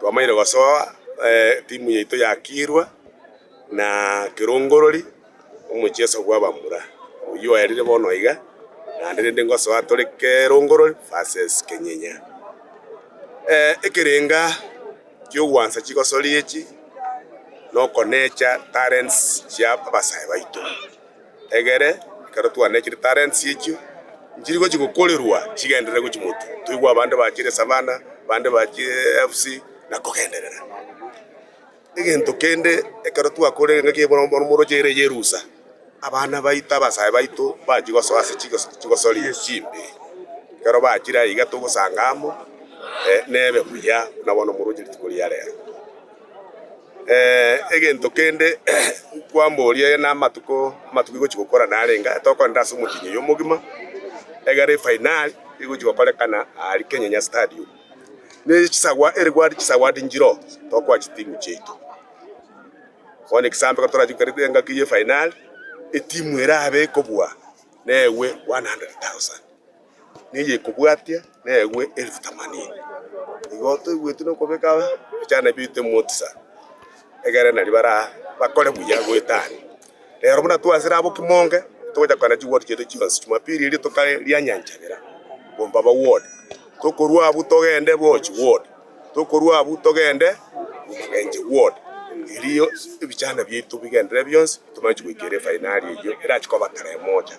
Twamanyire gosoa timu yaito ya Kirwa na Kirongorori omocheso bwa bamura oyio oerire bono iga naende rende ngosoa tore Kirongorori versus Kenyinya. Ekerenga ki'ogwansa chigosori echi nokonecha talents chia abasae baito. egere, ekero twanechire etalents echio, nchiri gochia gokorerwa chigenderere gochia moto, toigwe abande bachire Savana, bande bachire AFC, na kogenderera. Egento kende, ekero twakorire engaki ya bono- boromoroche ere ya erusa, abana baito, abasae baito, bachia gosoa ase chigoso- chigosori chimbe, ekero bachire aiga togosanga amo, nebe buya buna bono omoroche rituko ria rero. Egento kende nkwamboria, aye namatuko amatuko igochi gokora nare iga tokorenda ase omotienyi oyo omogima, egere efainari egochi gokorekana aria Kenyanya Stadium. Ne chisawa erigwari chisawadi nchire oo tokoa chitimu chiaito. Bono egesaambe ekero torache goika engaki y'efainari, etimu erabe ekobua neegwe one hundred thousand. neye ekobwatia negwe elfu themanini. Igo toigweti nokobeka ebichanda biaito emotisa, egere nari bara bakore buya goetania. Rero buna twasire abo kimonge, togocha kogenda chiward chiaito chionsi, Jumapili eria ritoka ria nyanchebera, gomba ba ward. Tokorwa abwo togende Bochi ward, tokorwa abwo togende Rumagenche ward, erio ebichanda biaito bigenderere bionsi, tomanye chigoikera efainari eyio, erache koba tarehe moja.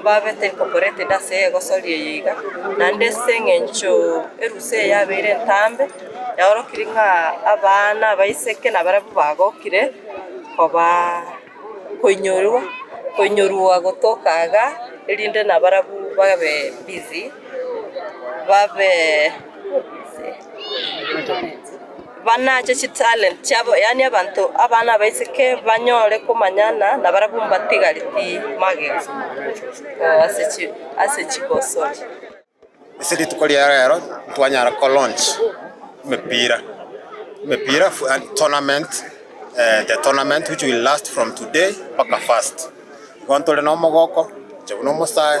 mbabe tenkokoretede ase egosori eye iga, naende ase eng'encho erusa eye yabeire entambe, yaorokiri ng'a abana, abaiseke nabarabwo bagokire kobaa koinyorwa, koinyorwa gotoka iga, erinde nabarabwo babe busy, babee. banache chitalent chiabo, yaani abanto abana abaiseke banyore komanyana nabarabwo mbatigari timagega ase chibosori. Ase rituko ria rero ntwanyara ko launch emepira, emepira tournament, the tournament which will last from today mpaka first. Igo ntore na omogoko, inche buna omosae.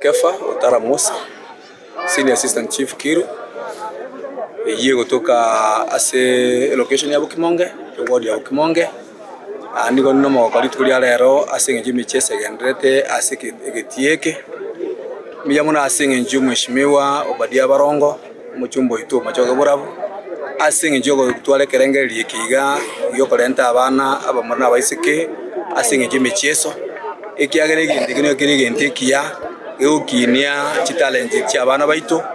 Kefa Otara Musa, Senior Assistant Chief Kiru, eyio egotoka ase elocation ya Bokimonge, eward ya Bokimonge. Aa nigo ninde omogoko rituko ria rero ase eng'encho y'emechie esegendererete ase egetii eke. Mbuya mono ase eng'encho y'omweshimiwa Obadia Barongo. Omochumba oito omochoke borabu, ase engencho y'ogotwara ekerengererio eke iga gi'okorenta abana abamura na abaiseke ase engencho y'emechieso, ekiagera egento eke nigo kere egento ekiya gegokinia chitalenti chi'abana baito.